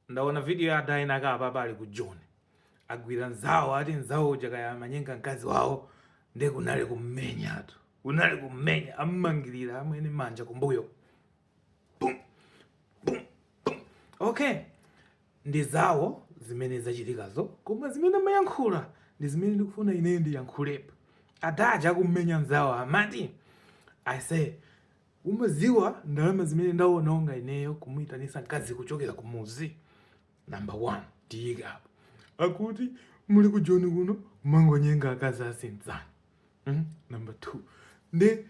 Ndaona video ya adaina akapa pali ku Joni agwira nzawo ati nzawo uja kaya amanyenga mkazi wawo nde kunali kummenyatu kunali kummenya ammangirira amwene manja kumbuyo Pum, pum, pum. okay ndi zawo zimene zachitikazo koma zimene amayankhula ndi zimene ndikufuna ineyo ndiyankhulepo adaja akummenya nzawo amati I say Umadziwa ndalama zimene ndawononga ineyo kumuitanitsa mkazi kuchokera kumudzi? Number one, tiyike apo. Akuti muli ku Joni kuno kumangonyenga akazi asinzanu. Mm? Number two, nde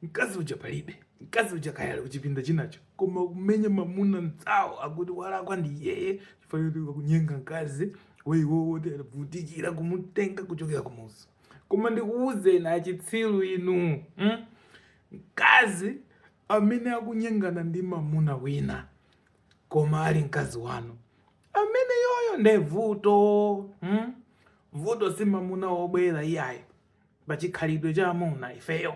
mkazi uja palibe. Mkazi uja kaya ali kuchipinda chinacho koma kumenya mamuna nzawo akuti walakwa ndi yeye chifukwa choti kunyenga mkazi waiwo woti anavutikira kumutenga kuchokera kumudzi. Koma ndikuwuzeni achitsiru inu. Mm? Mkazi amene akunyengana ndi mamuna wina koma ali mkazi wanu ameneyoyo nde vuto hmm? vuto si mamuna wobwera iyayi pachikhalidwe cha amuna ifeyo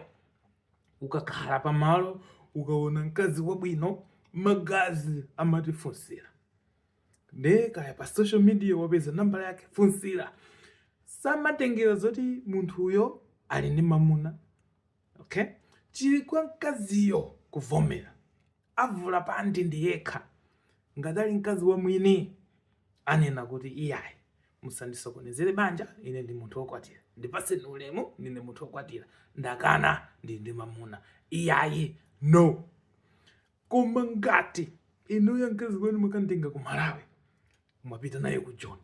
ukakhala pamalo ukaona mkazi wabwino magazi amatifunsira nde kaya pa social media wapeza nambala yake funsira samatengera zoti munthuyo ali ndi mamuna Okay? Chili kwa mkaziyo kuvomera. Avula panti ndi yekha. Ngati ali mkazi wa mwini anena kuti iyayi musandisokonezere banja ine ndine munthu wokwatira. Ndipaseni ulemu ndine munthu wokwatira. Ndakana ndi ndi mamuna. Iyayi no. Koma ngati inuyo mkazi wanu mwakantenga ku Malawi mwapita naye ku Joni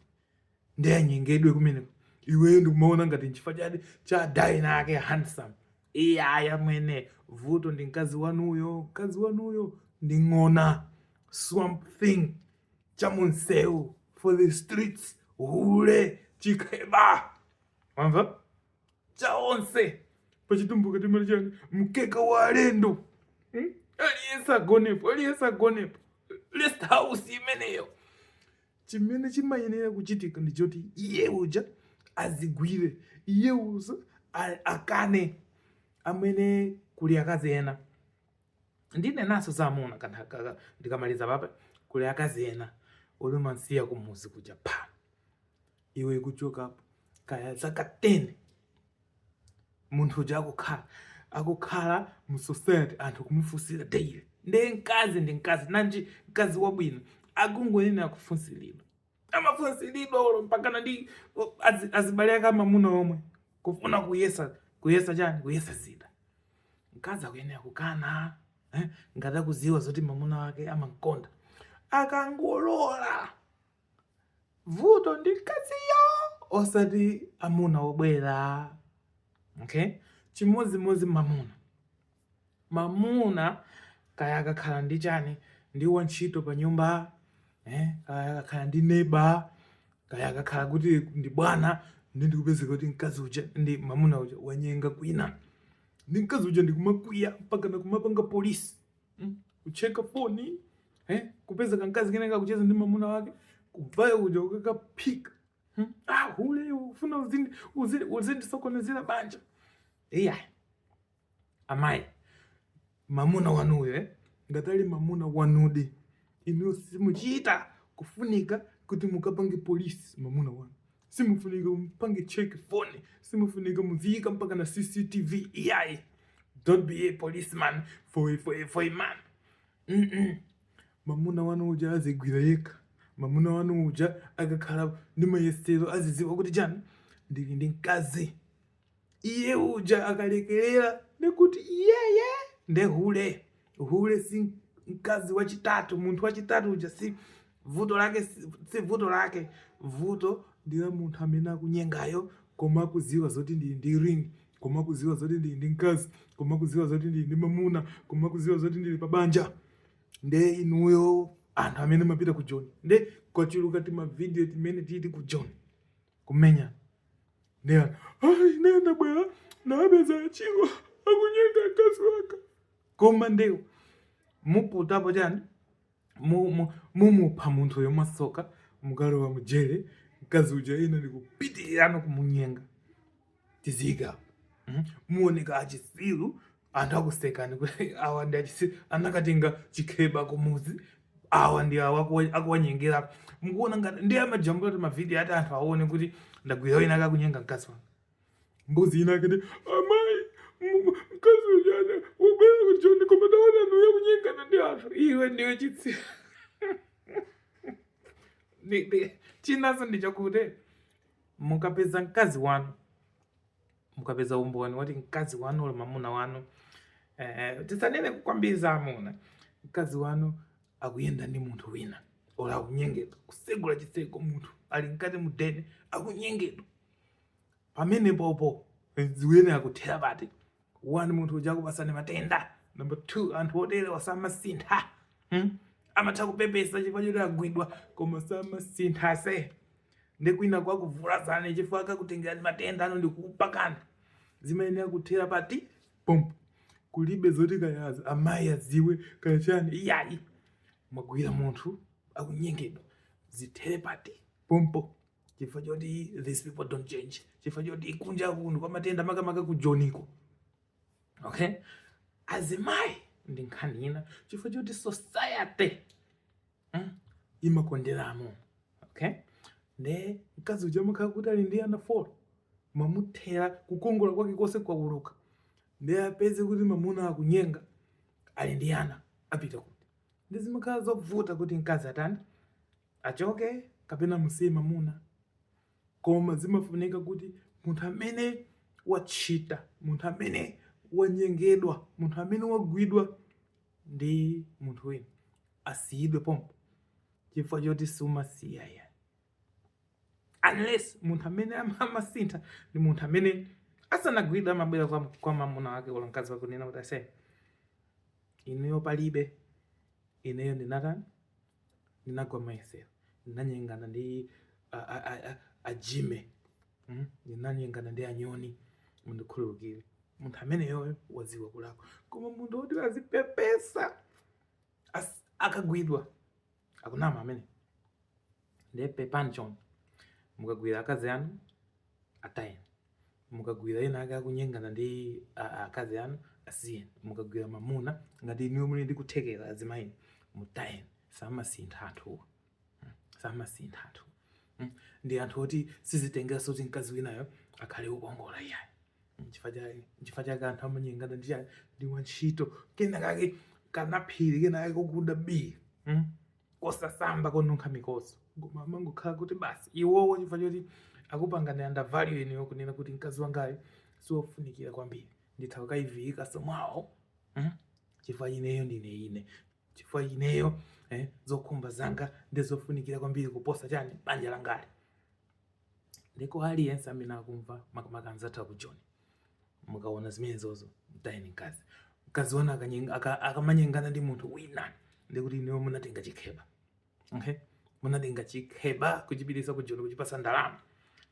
nde anyengedwe kumeneko iweyo ndikumaona ngati nchifukwa cha cha daina ake handsome iyayi amwene vuto ndi mkazi wanuyo mkazi wanuyo ndi ng'ona swamp thing cha munsewu for the streets hule chikheba wamva cha onse pachitumbuka timati chani mkeka wa alendo hmm? aliyense agonepo aliyense agonepo rest house imeneyo Chimene chimayenera kuchitika ndi choti iye uja azigwire, iye uja akane. Amwene kuli akazi ena ndinenanso za amuna kanthaka ndikamaliza papa, kuli akazi ena oti umansiya kumuzi kuja pa iwe kuchokapo kaya zaka 10 munthu uja akukhala akukhala mu society anthu kumufunsira daily nde mkazi ndi mkazi nanji mkazi wabwino akungoyenera kufunsiridwa amafunsiridwa olo mpakana ndi azibale ake amamuna omwe kufuna kuyesa kuyesa chani kuyesa zida mkazi akuyenera kukana eh? ngati akuziwa zoti mamuna wake amamkonda akangolola vuto ndi mkaziyo osati amuna obwera okay chimodzimodzi mamuna mamuna kaya akakhala ndi chani ndi wantchito pa nyumba eh? kaya akakhala ndi neba kaya akakhala kuti ndi bwana ndi ndikupezeka kuti mkazi uja ndi mamuna uja wanyenga kwina ndi mkazi uja ndikumakwiya mpakana kumapanga polisi Hmm? Kucheka foni, eh? Kupeza kankazi kena kakucheza ndi mamuna wake, kuvaya kuja kukakaphika. Hmm? Ah, hule ufuna uzindi uzindi uzindi sokonezera banja. Iyayi. Amayi. Mamuna wanuyo, eh? Ngati ali mamuna wanudi. Inu simuchita kufunika kuti mukapange polisi mamuna wanu. simufunika mupange check phone simufunika muziyika mpakana cctv iyayi don't be a policeman for a, for a, for a man mm -mm. mamuna wanu uja adzigwira yekha mamuna wanu uja akakhala ndi mayesero aziziwa kuti chani ndili ndi mkazi iye uja akalekerera ndikuti iyeye nde hule hule si mkazi wachitatu munthu wachitatu uja si vuto lake si si vuto lake vuto ndi la munthu amene akunyengayo koma akudziwa zoti ndili ndi ring koma akudziwa zoti ndili ndi mkazi koma akudziwa zoti ndili ndi mamuna koma akudziwa zoti ndili pa banja nde inuyo anthu amene mumapita ku joni nde kwachuluka timavidiyo timene tili ku joni kumenya ndewu ai nde ndabwera ndapeza achiwo akunyenga mkazi wanga koma ndewu muputapo chani mu- mu- mumupha munthu uyo mwatsoka mukalowa mujere mkazi uja ina ndikupitiriza kumunyenga tiziika mm, muoneka achitsiru anthu akusekani kuti awa ndi achitsiru anakatenga chikheba kumuzi awa ndi awa akuwa- akuwanyengera mukuona ngati ndiye amajambula timavidiyo ati anthu aone kuti ndagwira wina akakunyenga mkazi wanga mbuzi ina akati amayi mu- mkazi uja ndabwera ku joni koma taonani uyu akunyengana ndi anthu iwe ndiwe chitsiru Ndi- ndi- chinaso ndichakuti mukapeza mkazi wanu mukapeza umboni woti mkazi wanu olo mamuna wanu eh, tisanene kwambiri za amuna mkazi wanu akuyenda ndi munthu wina olo akunyengedwa kusegula chiseko munthu ali mkati mu deni akunyengedwa pamenepopo ziyenera kuthera pati one munthu uja akupatsani matenda number two anthu oterewa samasintha hmm? amatha kupepesa chifukwa choti agwidwa koma samasintha se ndi kwinako akuvulazani chifukwa akakutengerani matenda ano ndikupakani zimayenera kuthera pati pompo kulibe zoti kaya amayi adziwe kaya chani iyayi mwagwira munthu akunyengedwa zithere pati pompo chifukwa choti these people don't change chifukwa choti kunja kuno kwa matenda makamaka ku joniko okay azimayi ndi nkhani ina chifukwa choti society mm, imakonderamo okay nde mkazi uja amakhala kuti ali ndi ana four mwamuthera kukongola kwake konse kwauluka nde apeze kuti mamuna akunyenga ali ndi ana apita kuti nde zimakhala zovuta kuti mkazi atani achoke kapena amusiye mamuna koma zimafunika kuti munthu amene wachita munthu amene wanyengedwa munthu amene wagwidwa ndi munthu wina asiyidwe pompo chifukwa choti sumasiya ya unless munthu amene amasintha ndi munthu amene asanagwidwe amabwera kwa, kwa mamuna wake olo mkazi wake kunena kuti ase ineyo palibe ineyo ndinatani ndinagwa m'mayesero ndinanyengana ndi a- a- a- a- ajime mm? ndinanyengana ndi anyoni mundikhululukire munthu ameneyoyo wadziwa kulakwa koma munthu woti azipepesa as- akagwidwa akunama amene ndiye pepani chonde mukagwira akazi anu atayeni mukagwira ena ake akunyengana ndi a- akazi anu asiyeni mukagwira mamuna ngati inuyo muli ndi kuthekera azimayini mutayeni samasintha anthuwa samasintha anthu Mm. ndi anthu oti sizitengeranso kuti mkazi winayo akhale wokongola iyayi Nchifukwa cha- nchifukwa chake anthu amanyengana ndi chani ndi wantchito kena kake kanaphiri kena kake kokuda bii Mm. kosasamba konunkha mikodzo koma amangokhala kuti basi iwowo chifukwa choti akupangani undervalue inuyo kunena kuti mkazi wangayu siwofunikira kwambiri nditha kukaiviyikanso mwawo mm? chifukwa ineyo ndine ine chifukwa ineyo eh, zokhumba zanga ndizofunikira kwambiri kuposa chani banja langali ndiko aliyense amene akumva makamaka anzathu aku joni mukaona zimenezozo mtayeni mkazi mkazi wanu akanyenga- aka- akamanyengana ndi munthu wina ndekuti inuyo munatenga chikheba okay? munatenga chikheba kuchipitisa ku joni kuchipasa ndalama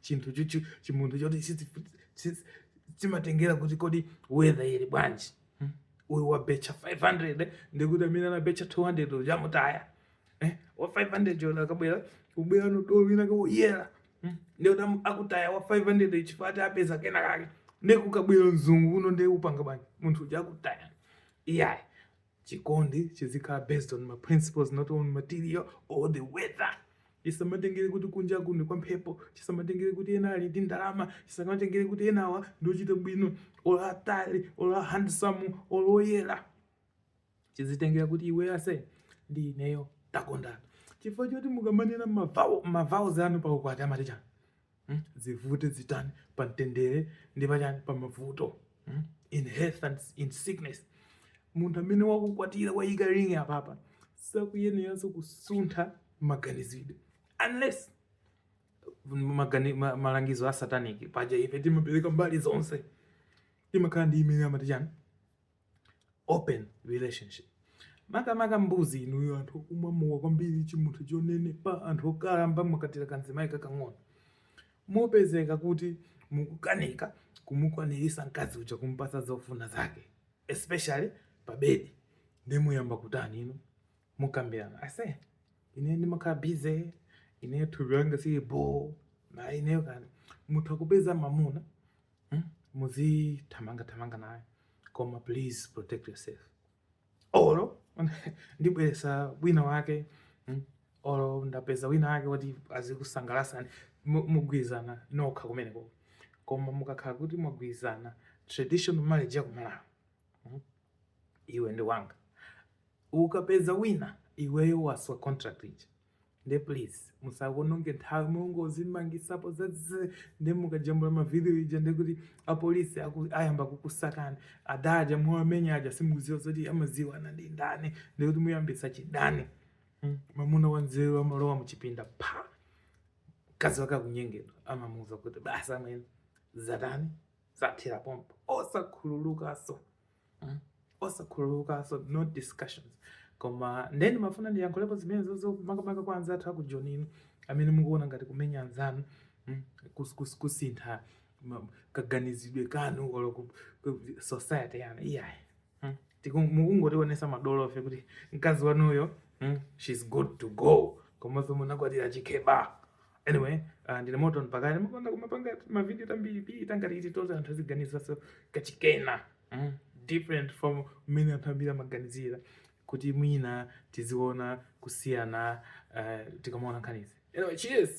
chinthu chuchu chimunthu choti chizi- chizi- chimatengera kuti kodi weather ili bwanji hmm? uyu wabecha 500 ndekuti amene anabecha 200 uja amutaya eh, wa 500 yona akabwera kubweranso dolo wina kaya woyera hmm? ndiye tam akutaya wa 500 chifukwa apeza kena kake nde kukabwera mzungu kuno nde upanga bwanji munthu uja akutaya iyayi chikondi chizikhala based on my principles not on material or the weather chisamatengere kuti kunja kuno kwampepo chisamatengere kuti ena ali ndi ndalama chisamatengere kuti enawa ndiochita bwino olo atali olo handsome olo oyera chizitengela kuti iwe ase ndi ineyo takondana chifukwa choti mukamanena ma vows anu pa ukwati amati chani hmm? zivute zitani pa mtendere ndi pachani pa mavuto hmm? in health and in sickness munthu amene wakukwatira wayika ring apapa sakuyeneranso kusuntha maganizidwe unless magani, ma, malangizo a satanic paja ife timapereka mbali zonse timakhala ndi imene amati chani open relationship makamaka mbuzi inuyo anthu okumwa mowa kwambiri chimunthu chonenepa anthu okalamba mwakwatira kamzimayi kakang'ono mupezeka kuti mukukanika kumukwanirisa mkazi uja kumpasa zofuna zake especially pa bedi nde muyamba kutani inu mukambirana ase ine ndimakhala busy ine thupi langa silili bho nde inuyo kani mutha kupeza mamuna hmm? muzithamanga thamanga naye koma please protect yourself olo ndibweresa wina wake hmm? olo ndapeza wina wake woti azikusangalasani mugwirizana nokha kumeneko koma mukakhala kuti mwagwirizana traditional marriage yakumalawi hmm? iwe ndiwe wanga ukapeza wina iweyo waswa contract ija nde please musakaononge nthawi mungozimangisapo zaziii nde mukajambula mavidiyo aja ndekuti apolisi ayamba kukusakani adaja muwamenya aja simukuziwa zoti amaziwana ndi ndani ndekuti muyambisa chidani hmm? mamuna wanzeru amalowa muchipinda pa mkazi wake akunyengedwa amamuuza kuti basi amwene zatani zathira pompo osakhululukaso mm? osakhululukanso no discussions koma nde ndimafuna ndiyankhulepo zimenezozo makamaka kwa anzathu aku joni amene mukuona ngati kumenya anzanu mm? kus- kus- kusintha ma- kaganizidwe kanu olo ku- ku- society yanu iyayi mm? Tiku- mukungotionesa madolofe kuti mkazi wanuyo mm? she's good to go komanso munakwatira chikheba Anyway, uh, ndine moto mpaka ndimapanga kumapanga mavideo tambiri bi tongoti titithandize anthu aziganizaso kachikena different from mmene anthu ambiri amaganizira kuti mwina tiziona kusiyana uh, tikamaona nkhanizi anyway, cheers